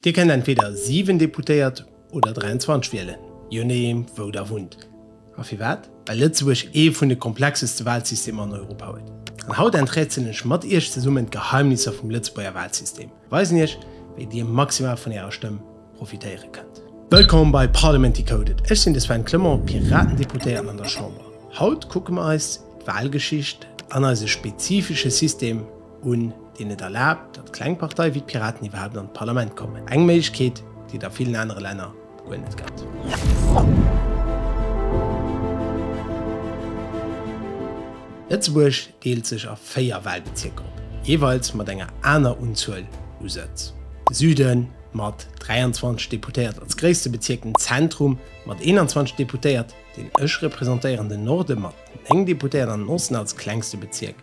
Dir kennt entweder 7 Deputéiert oder 23 wielen, je nodeem wou der wunnt. A firwat? Well Lëtzebuerg ee vun de komplexeste Walsystemer an Europa huet. An haut enträtselen ech mat Iech zesummen d'Geheimnisser vum Lëtzebuerger Walsystem a weisen Iech wéi Dir maximal vun Ärer Stëmm profitéiere kënnt. Wëllkomm bei Parliament Decoded, ech sinn de Sven Clement, Piratendeputéierten an der Chamber. Haut kucke mer eis d'Walgeschicht an eise spezifesche System. un, deen et erlaabt, datt kleng Partei wéi d'Piraten iwwerhaapt an d'Parlament kommen, eng Méiglechkeet, déi et a villen anere Länner guer net gëtt. Lëtzebuerg deelt sech a véier Walbezierker op, jeeweils mat enger aner Unzuel u Sëtz, de Süden mat 23 Deputéiert als gréisste Bezierk, den Zentrum mat 21 Deputéiert, deen ech representéieren, den Norde mat 9 Deputéiert an den Osten als klengste Bezierk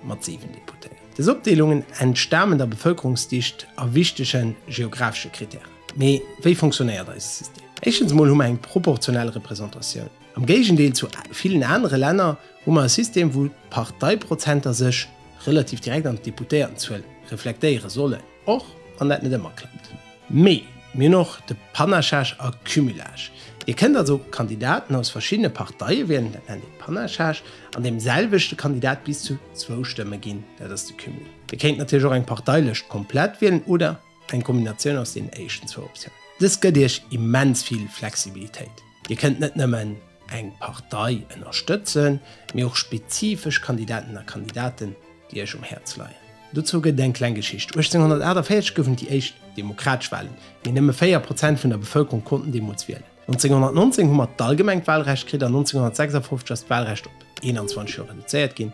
mat 7 Deputéierten. Des Opdeelungen entstamen der Bevëlkerungsdicht a wichtege geographesche Krittären. Mee wéi funktionéiert eise System? Éischtens emol hu mer eng proportionell Representatioun. Am Géigendeel zu villen anere Länner hu mer e System, wou d'Parteiprozenter sech relativ direkt an d'Deputéiertenzuel reflektéiere sollen. Och wann dat net ëmmer klappt. Mee mir hunn och de Panachage a Cumulage. Dir kënnt also Kandidaten aus verschiddene Parteie wielen, dat nennt ee Panachage, an deem selwechte Kandidat bis zu zwou Stëmme ginn, dat ass de Cumul. Dir kéint natierlech och eng Parteilëscht komplett wielen oder eng Kombinatioun aus deenen éischten zwou Optiounen. Dëst gëtt Iech immens vill Flexibilitéit. Dir kënnt net nëmmen eng Partei ënnerstëtzen, mee och spezifesch Kandidaten a Kandidaten, déi Iech um Häerz leien. Dozou gëtt et eng kleng Geschicht, 1848 goufen et déi éischt demokratesch Walen, mee nëmme 4 Prozent vun der Bevëlkerung konnten deemools wielen. 1919 hu mer d'allgemengt Walrecht kritt an 1956 ass d'Walrecht op 21 Joer reduzéiert ginn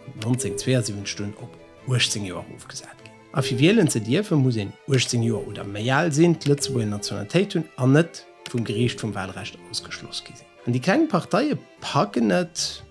an 1972 dunn op 18 Joer erofgesat ginn. A fir wielen ze dierfen, muss een 18 Joer oder méi al sinn, d'Lëtzebuerger Nationalitéit hunn an net, vum Geriicht vum Wahlrecht ausgeschloss gi sinn. An déi kleng Parteie packen et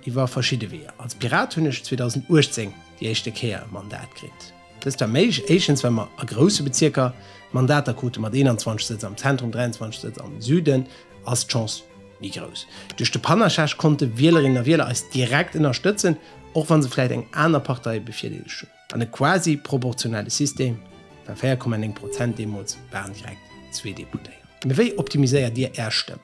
iwwer verschidde Weeër. Als Pirat hunn ech 2018 déi éischte Kéier e Mandat kritt. Dëst war méiglech, éischtens well mer a grousse Bezierker Mandater krute mat 21 Sëtz am Zentrum, 23 Sëtz am Süden ass d'Chance méi grouss. Duerch de Panachage konnte Wielerinnen a Wieler eis direkt ënnerstëtzen, och wa se vläicht eng aner Partei bevirdeelegt hunn. An e quasi proportionelle System war 4,9 Prozent deemools, waren direkt zwee Deputéiert. Mee wéi optimiséiert Dir Är Stëmm?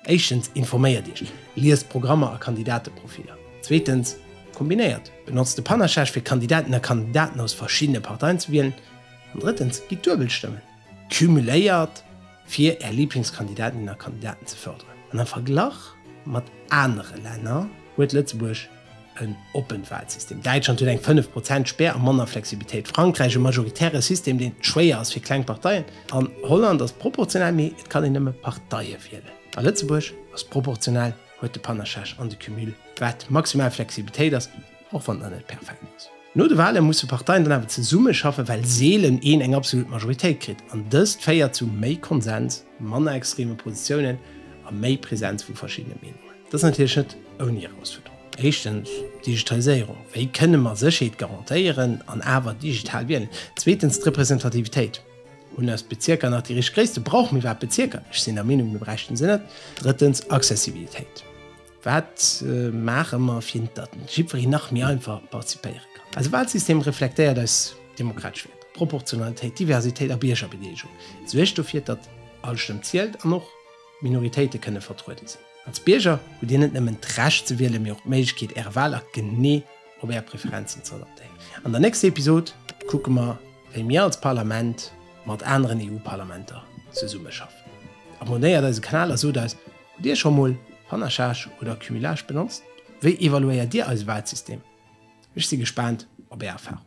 Éischtens, informéiert Iech, liest Programmer a Kandidateprofiller. Zweetens, kombinéiert, benotzt de Panachage fir Kandidatinnen a Kandidaten aus verschiddene Parteien ze wielen. An drëttens, gitt Duebelstëmmen. cumuléiert, fir Är Liblingskandidatinnen a Kandidaten ze fërderen. An am Verglach mat anere Länner huet Lëtzebuerg en oppent Walsystem. Däitschland huet eng 5 Prozent Spär a manner Flexibilitéit, Frankräich e majoritäre System, deen et schwéier ass fir kleng Parteien, an Holland ass proportional, mee et kann een nëmme Parteie wielen. A Lëtzebuerg ass proportional, huet de Panachage an de Cumul, wat maximal Flexibilitéit ass. Och wann dat net perfekt ass. No de Wahlen musse Parteien dann awer zesumme schaffen, well seelen een eng absolut Majoritéit kritt. An dëst féiert zu méi Konsens, manner extreme Positiounen a méi Präsenz vu verschiddene Meenungen. Dat ass natierlech net ouni Erausfuerderungen. Éischtens, d'Digitaliséierung, wéi kënne mer Sécherheet garantéieren an awer digital wielen? Zweetens, d'Representativitéit, hunn eis Bezierker nach déi richteg Gréisste? Brauche mir iwwerhaapt Bezierker? Ech sinn der Meenung, mir bräichten se net. Drëttens, Accessibilitéit. Wat maache mer fir datt jiddwereen nach méi einfach participéiere kann? Eise Walsystem reflektéiert eis demokratesch Wäerter, Proportionalitéit, Diversitéit a Biergerbedeelegung. Et suergt dofir, datt all Stëmm zielt an och Minoritéite kënne vertruede sinn. Als Bierger hutt Dir net nëmmen d'Recht ze wielen, mee och d'Méiglechkeet Äre Walakt genee op Är Preferenzen ze adaptéieren. An der nächster Episod kucke mer, wéi mir als Parlament mat aneren EU-Parlamenter zesummeschaffen. Abonnéiert eise Kanal a sot eis, Dir scho mol Panachage oder Cumulage benotzt? Wéi evaluéiert Dir eise Walsystem? Ech si gespaant op Är Erfarungen.